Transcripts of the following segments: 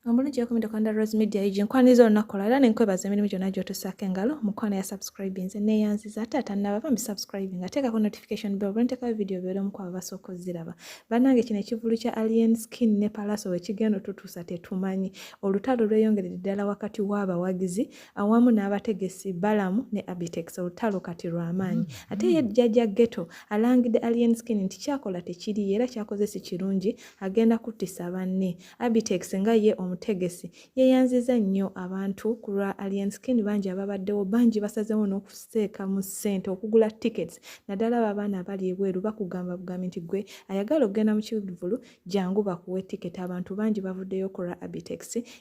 omulungi yakomede kwanda rose media egi nkwaniriza olunaku olwo era nenkwebaza emirimu gyonna gyotusaako engalo mukwano ya subscribinze neyanziza ate atannaba bambi subscribing ateekako notification bell bwenteekayo vidiyo obeera omu kwabo basooka oziraba bannange kino ekivulu kya alien skin ne palaso wekigenda otutuusa tetumanyi olutalo lweyongeredde ddala wakati w'abawagizi awamu n'abategesi balamu ne abitex olutalo kati lwamaanyi mm-hmm. ate ye jjajja geto alangidde alien skin nti kyakola tekiriyo era kyakoze si kirungi agenda kuttisa banne Abitex nga ye omutegesi yeyanziza nnyo abantu ku lwa Alien Skin bangi ababaddewo bangi basazeewo n'okuseeka mu ssente okugula tickets naddala abo abaana abali ebweru bakugamba bugambi nti gwe ayagala okugenda mu kivulu jangu bakuwe ticket abantu bangi bavuddeyo ku lwa Abitex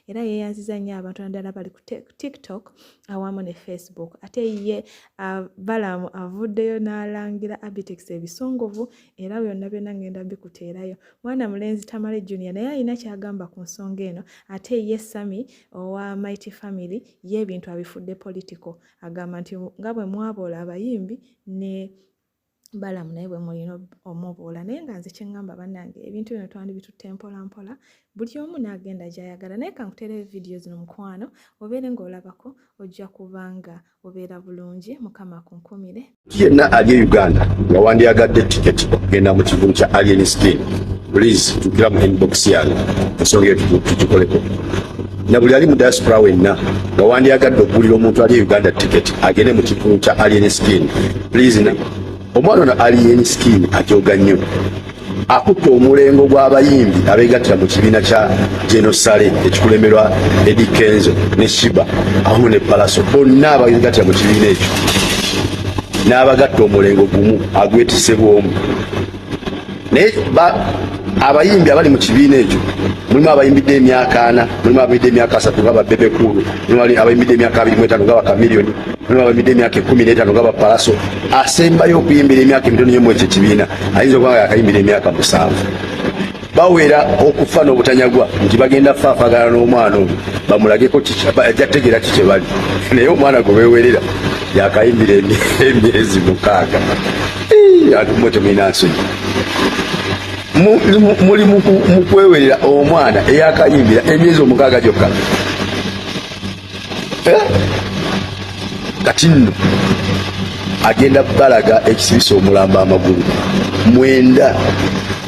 era yeyanziza nnyo abantu naddala bali ku TikTok awamu ne Facebook ate ye uh, Balaam avuddeyo n'alangira Abitex ebisongovu era byonna byonna ngenda bikuteerayo mwana mulenzi tamale junior naye alina kyagamba ku nsonga eno ate ye sami owa mighty family ye ebintu abifudde political agamba nti nga bwe mwaboola abayimbi ne balamu naye bwe mulina omuboola naye nga nze kyeŋŋamba bannange ebintu bino twandibitutte mpola mpola buli omu n'agenda gy'ayagala naye kankutereyo vidiyo zino mukwano obeere ng'olabako ojja kubanga obeera bulungi mukama kunkumire yenna ali e uganda nga wandyagadde tiketi okugenda mu kivulu kya alien skin please tukira mu inbox yange ensonga eyo tugikoleko na buli ali mu diaspora wenna nga wandyagadde okugulira omuntu ali e uganda tiketi agende mu kivulu kya alien skin please na Omwana ono Alien Skin ajooga nnyo akutte omulengo gw'abayimbi abeegattira mu kibiina kya genosale ekikulemberwa Eddie Kenzo ne Shiba awamu ne Palaso bonna abeegattira mu kibiina ekyo n'abagatta omulengo gumu agwetise bw'omu naye abayimbi abali mu kibiina ekyo mulimu abayimbidde emyaka ana mulimu abayimbidde emyaka asatu nga babebe kuulu mulimu abayimbidde emyaka abiri mu etaano nga bakamiliyoni mulimu abayimbidde emyaka ekumi n'etaano nga bapalaso asembayo okuyimbira emyaka emitono yemu ekyo ekibiina ayinza okuba nga yakayimbira emyaka musanvu bawera okufa n'obutanyagwa nti bagenda faafagana n'omwana oyo bamulageko ajja tegeera ki kye bali naye omwana gwe bewerera yakayimbira emyezi mukaaga ati mwe temulina nsonyi muli mukwewerera omwana eyakayimbira emyezi omukaaga gyokka eh? kati nno agenda balaga ekisibisa omulamba amagulu mwenda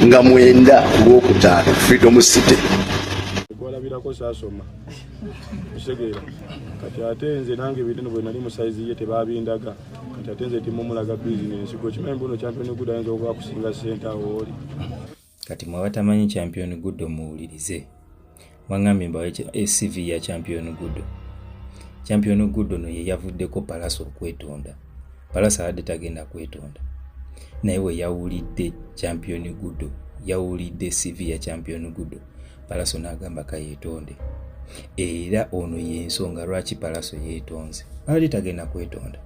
nga mwenda kulwokutaano freedom city kwalabirako sasoma kitegeera kati ate nze nange ebintu bwenali musaizi ye tebabindaga nti ate nze timumulaga bizinensi gwe kimanyi mbuno champion good ayinza okuba kusinga sente awo oli kati mwe abatamanyi champion good muwulirize wangambye mbawe cv ya champion good champion good ono ye yavuddeko palasa okwetonda palasa abadde tagenda kwetonda naye we yawulidde champion good yawulidde cv ya champion good palaso n'agamba kayeetonde era ono y'ensonga lwaki palaso yeetonze ali tagenda kwetonda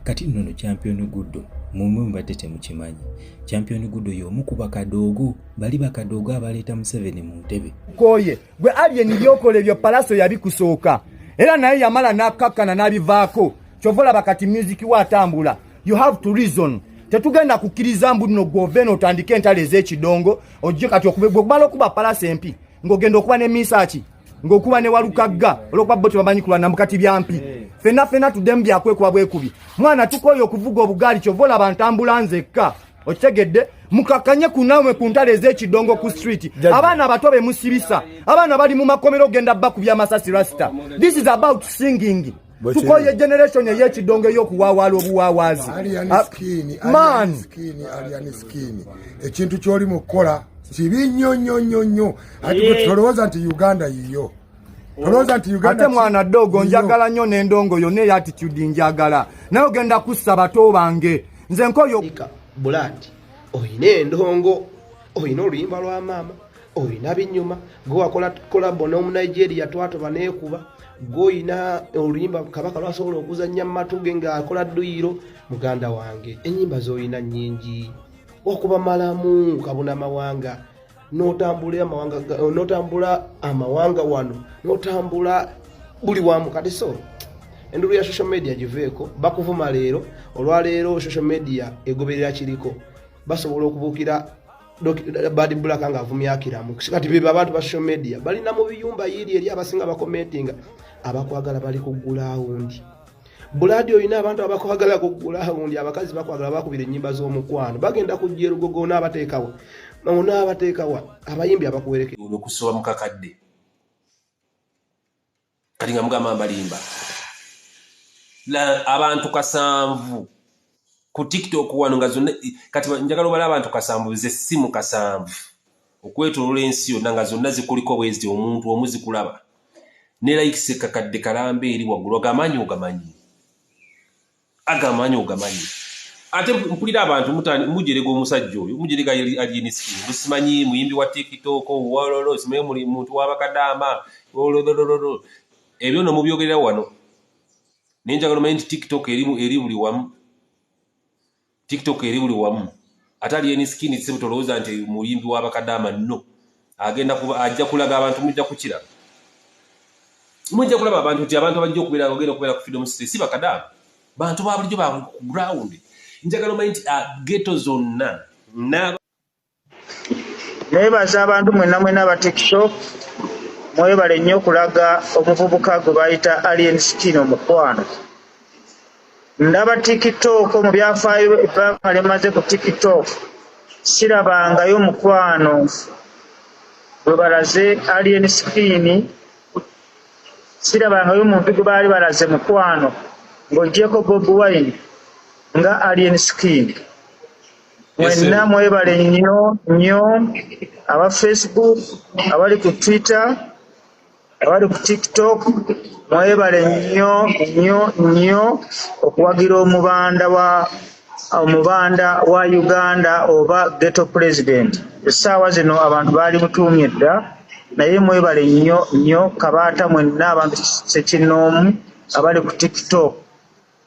kati nno no champion guddo mumwe mubadde temukimanyi champion guddo y'omu ku bakadoogo bali bakadoogo abaleeta museveni mu ntebe koye gwe alien byokola ebyo palaso yabikusooka era naye yamala n'akkakkana n'abivaako kyova olaba kati musiki we atambula you have to reason tetugenda kukkiriza mbu nno gwove nootandika entalo ez'ekidongo ojje kati okube gwogumala okuba palasi empi ng'ogenda okuba ne misaaki ng'okuba ne walukagga olwokuba bo tebamanyi kulwana mukati byampi eh. fenna fenna tuddemu byakwekuba bwekubi mwana tukooye okuvuga obugaali kyova olaba ntambula nzekka okitegedde mukakanye kunamwe ku ntale ez'ekidongo ku street abaana abato bemusibisa abaana bali mu makomero ogenda bakubya masasi rasta this is about singing tukoye generation eyekidongo eyokuwawaala obuwawaazi ah, man ekintu kyoli mukukola kibi nnyo nnyo nnyo nnyo ati eh. tolowooza nti uganda yiyo ate mwana dogo njagala nnyo nendongo yona eyo attitude njagala naye ogenda kussa bato bange nze nkoyo bulandi oyina endongo oyina oluyimba lwa maama olina binyuma gwe wakola kolabo n'omunigeria twatoba neekuba gwe olina oluyimba kabaka lwasobola okuzannya mu matu ge ng'akola dduyiro muganda wange ennyimba z'olina nnyingi okuba malamu kabuna mawanga n'otambula amawanga n'otambula amawanga wano n'otambula buli wamu kati so endulu ya social media giveeko bakuvuma leero olwaleero social media egoberera kiriko basobola okubuukira bad black nga avumya akiramu kati beba abantu ba social media bali na mu biyumba yiri eri abasinga ba commenting abakwagala bali ku ground buladi oyina abantu abakwagala ku ground abakazi bakwagala bakubira enyimba z'omukwano bagenda kujja erugogo n'abateekawa n'abateekawa abayimbi abakuwerekera okusoba mu kakadde kati nga mugamba mbalimba abantu kasanvu ku tiktok wano nga zonna kati njagala obala abantu kasanvu ze simu kasanvu okwetolola ensi yonna nga zonna zikuliko bwezi omuntu omu zikulaba ne likes kakadde kalamba eri waggulu ogamaanyi ogamanyi agamanyi ogamanyi ate mpulira abantu mujerega omusajja oyo mujerega alinisi musimanyi muyimbi wa tiktok wololo simanyi muli muntu wabakadaama ololololo ebyo no mubyogerera wano nenjagala omanyi nti tiktok eri buli wamu tiktok eri buli wamu ate ali eni skin sebo tolowooza nti muyimbi wa bakadaama no agenda kuba ajja kulaga abantu mujja kukiraba mujja kulaba abantu nti abantu abajja okubeera agenda okubeera ku freedom city si bakadaama bantu ba bulijjo ba ground njagala omanyi nti ah, geto zonna Nebaza abantu mwena mwena aba tiktok mwebale nnyo okulaga omuvubuka gwebayita Alien Skin omukwano. Ndaba tiktok mu byafaayo ebbanga lyemaze ku tiktok sirabangayo mukwano gwebalaze Alien Skin sirabangayo muntu gwebaali balaze mukwano ng'ogyeko Bobi Wine nga Alien Skin. mwenna mwebale nnyo nnyo aba facebook abali ku twitter abali ku tiktok mwebale nnyo nnyo nnyo okuwagira omubanda wa omubanda wa uganda oba geto president essaawa zino abantu baali mutuumye dda naye mwebale nnyo nnyo kabaata mwenna abantu sekinnoomu abali ku tiktok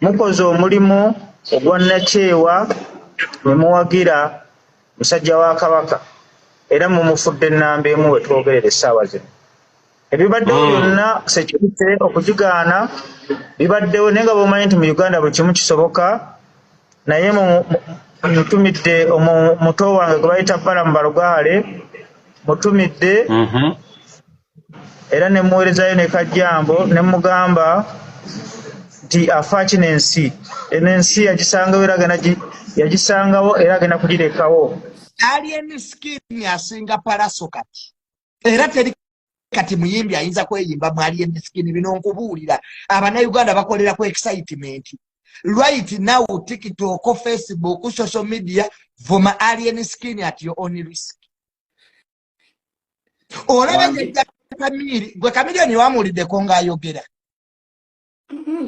Mukoze omulimu ogwannakyewa ne muwagira musajja wa Kabaka era mumufudde nnamba emu we twogerera essaawa zino. Ebibaddewo hmm. byonna sekirite okugigaana bibaddewo naye nga bwomanyi nti mu Uganda buli kimu kisoboka naye mutumidde omuto wange gwe bayita Balamu Balugaale mutumidde mhm. era ne muweerezayo ne kajjambo ne mugamba nti afaaki n'ensi eno ensi yagisangawo era agenda yagisangawo era agenda kugirekawo ali emisikini asinga palaso kati era teri kati muyimbi ayinza kweyimba mwali emisikini bino nkubuulira abanauganda bakolera ku excitement right now tiktok facebook social media vuma alien skin at your own risk olaba kamiri gwe kamiriyoni wamuwuliddeko ng'ayogera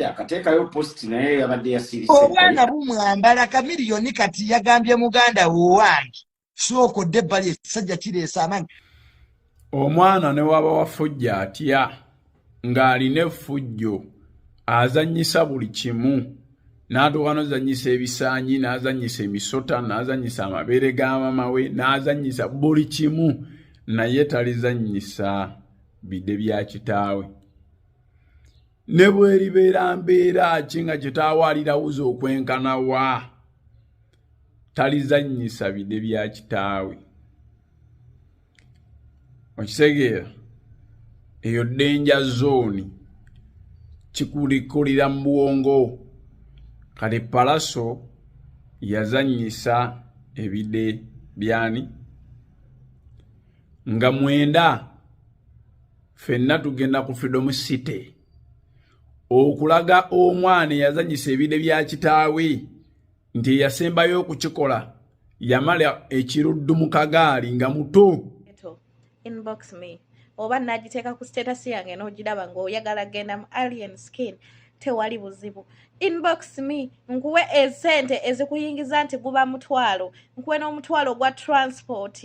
akateekayo post naye yabadde yasirise obwana bumwambala kamiriyoni kati yagambye muganda wowange sooka odde ebbali ekisajja kireesa amanyi omwana ne waba wafujja atya ng'alina effujjo azannyisa buli kimu n'atuuka n'ozannyisa ebisaanyi n'azannyisa emisota n'azannyisa amabeere ga mama we n'azannyisa buli kimu naye talizannyisa bide bya kitaawe ne bweribeera mbeera ki nga kitaawe alirawuza okwenkana wa talizannyisa bide bya kitaawe okitegeera eyo denja zooni kikulikulira mu bwongo kati palaso yazanyisa ebide byani nga mwenda fenna tugenda ku freedom city okulaga omwana eyazanyisa ebide bya kitaawe nti eyasembayo okukikola yamala ekiruddu mu kagaali nga muto inbox me oba nagiteeka ku status yange n'ogiraba ng'oyagala genda mu alien skin tewali buzibu inbox me nkuwe esente ezikuyingiza nti guba mutwalo nkuwe n'omutwalo gwa transport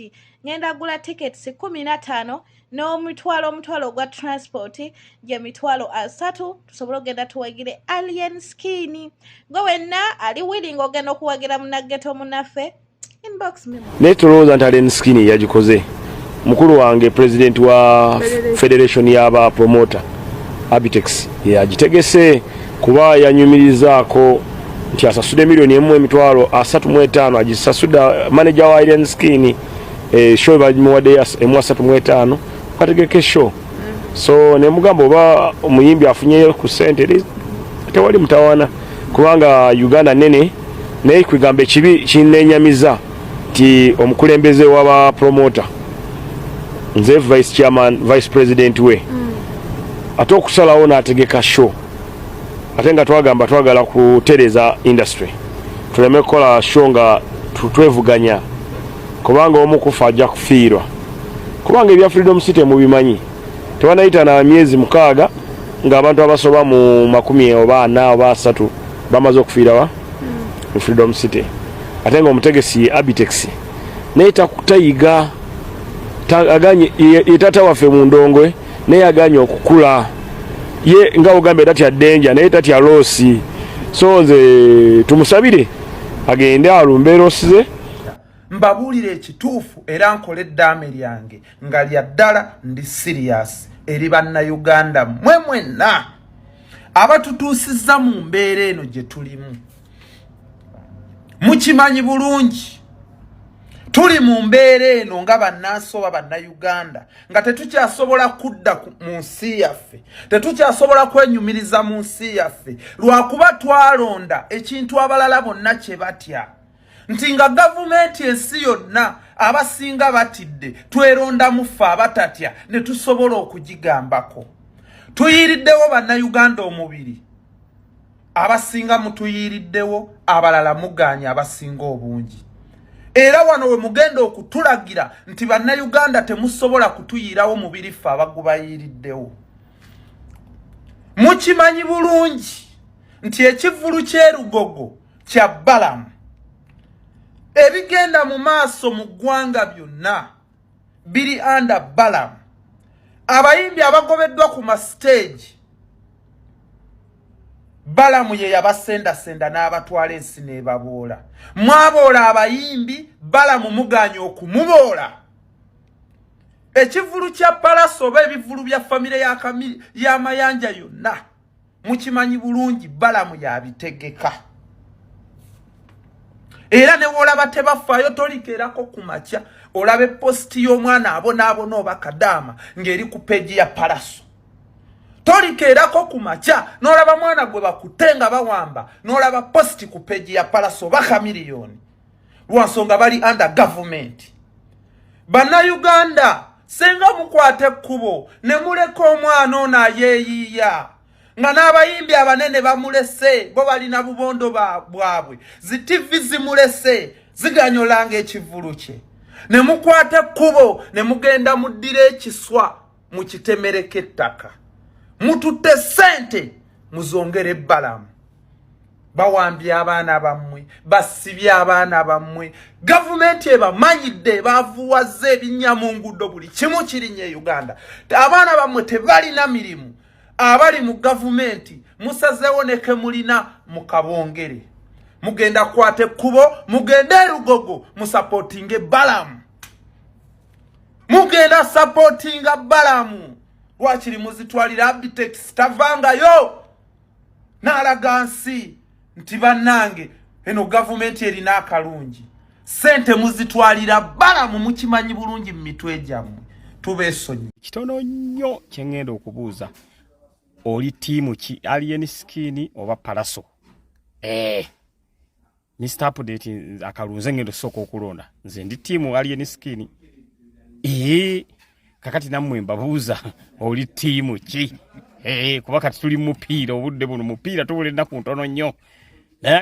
ngenda gula tickets kumi na tano n'omutwalo omutwalo ogwa transport gye mitwalo asatu tusobole okugenda tuwagire alien skin gwe wenna ali willing ogenda okuwagira munaggeto munaffe naye tolowooza nti alien skin yagikoze mukulu wange president wa federation y'aba promota abitex yagitegese kuba yanyumirizaako nti asasude miliyoni emu emitwalo asatu mu etaano agisasuda maneja wa alien skin eh, show bagimuwadde ya emu asatu mu etaano kategeke show so nemugamba oba omuyimbi afunyeyo ku sente tewali mutawana kubanga uganda nene naye kwegamba ekibi kinenyamiza nti omukulembeze waba promota nze vice chairman vice president we mm. ate okusalawo nategeka show ate nga twagamba twagala kutereza industry tuleme kukola sho nga twevuganya kubanga omu kufa ajja kufiirwa kubanga ebya freedom city mubimanyi tebanayita na myezi mukaaga nga abantu abasoba mu makumi oba ana oba asatu bamaze okufiirawa mu freedom city ate nga omutegesi ye abitex naye tayiga aganye yetata waffe mu ndongwe naye yaganye okukula ye nga ogambye tatya denja naye tatya loosi so nze tumusabire agende alumbe loosi ze mbabuulira ekituufu era nkole eddaame lyange nga lya ddala ndi siriyasi eri bannayuganda mwe mwenna abatutuusizza mu mbeera eno gye tulimu mukimanyi bulungi tuli mu mbeera eno nga bannansi oba bannayuganda nga tetukyasobola kudda mu nsi yaffe tetukyasobola kwenyumiriza mu nsi yaffe lwakuba twalonda ekintu abalala bonna kye batya nti nga gavumenti ensi yonna abasinga batidde twerondamu ffe abatatya ne tusobola okugigambako tuyiiriddewo bannayuganda omubiri abasinga mutuyiiriddewo abalala mugaanya abasinga obungi era wano we mugenda okutulagira nti bannayuganda temusobola kutuyiirawo mubiri ffe abagubayiiriddewo mukimanyi bulungi nti ekivvulu ky'erugogo kya balamu ebigenda mu maaso mu ggwanga byonna biri anda balam abayimbi abagobeddwa ku masiteegi balamu ye yabasendasenda n'abatwala ensi n'ebaboola mwaboola abayimbi balamu muganye okumuboola ekivulu kya palasi oba ebivulu bya famire ya mayanja yonna mukimanyi bulungi balamu yabitegeka era newolaba tebafaayo tolikerako ku makya olaba epositi y'omwana abonaabona oba kadaama ng'eri ku peegi ya palaso tolikeerako ku makya n'olaba mwana gwe bakutte nga bawamba n'olaba positi ku peegi ya palaso oba kamiliyoni lwansonga bali under government bannayuganda singa mukwata ekkubo ne muleka omwana ono ayeeyiiya nga n'abayimbi abanene bamulese bo balina bubondo bwabwe zi tivi zimulese ziganyolanga ekivulu kye ne mukwata ekkubo ne mugenda muddira ekiswa mu kitemereko ettaka mututte ssente muzongere ebbalamu bawambye abaana bammwe basibye abaana bammwe gavumenti ebamanyidde ebavuwazza ebinnya mu nguudo buli kimu kirinnya e uganda abaana bammwe tebalina mirimu abali mu gavumenti musazeewo neke mulina mu kabongere mugenda kukwata ekkubo mugende erugogo musapotinge balamu mugenda sapotinga balamu lwakiri muzitwalira abitex tavangayo n'alaga nsi nti bannange eno gavumenti erina akalungi sente muzitwalira balamu mukimanyi bulungi mu mitwe gyammwe tubeesonyi kitono nnyo kye ŋŋenda okubuuza oli tiimu ki alien skin oba palaso ee eh. Mr. Update akalunze ngendo soko okulonda. Nze ndi timu alien skin. Eh kakati namwe mbabuuza oli timu ki? Eh kuba kati tuli mupiira obudde buno mupiira tubule naku ntono nnyo. Naye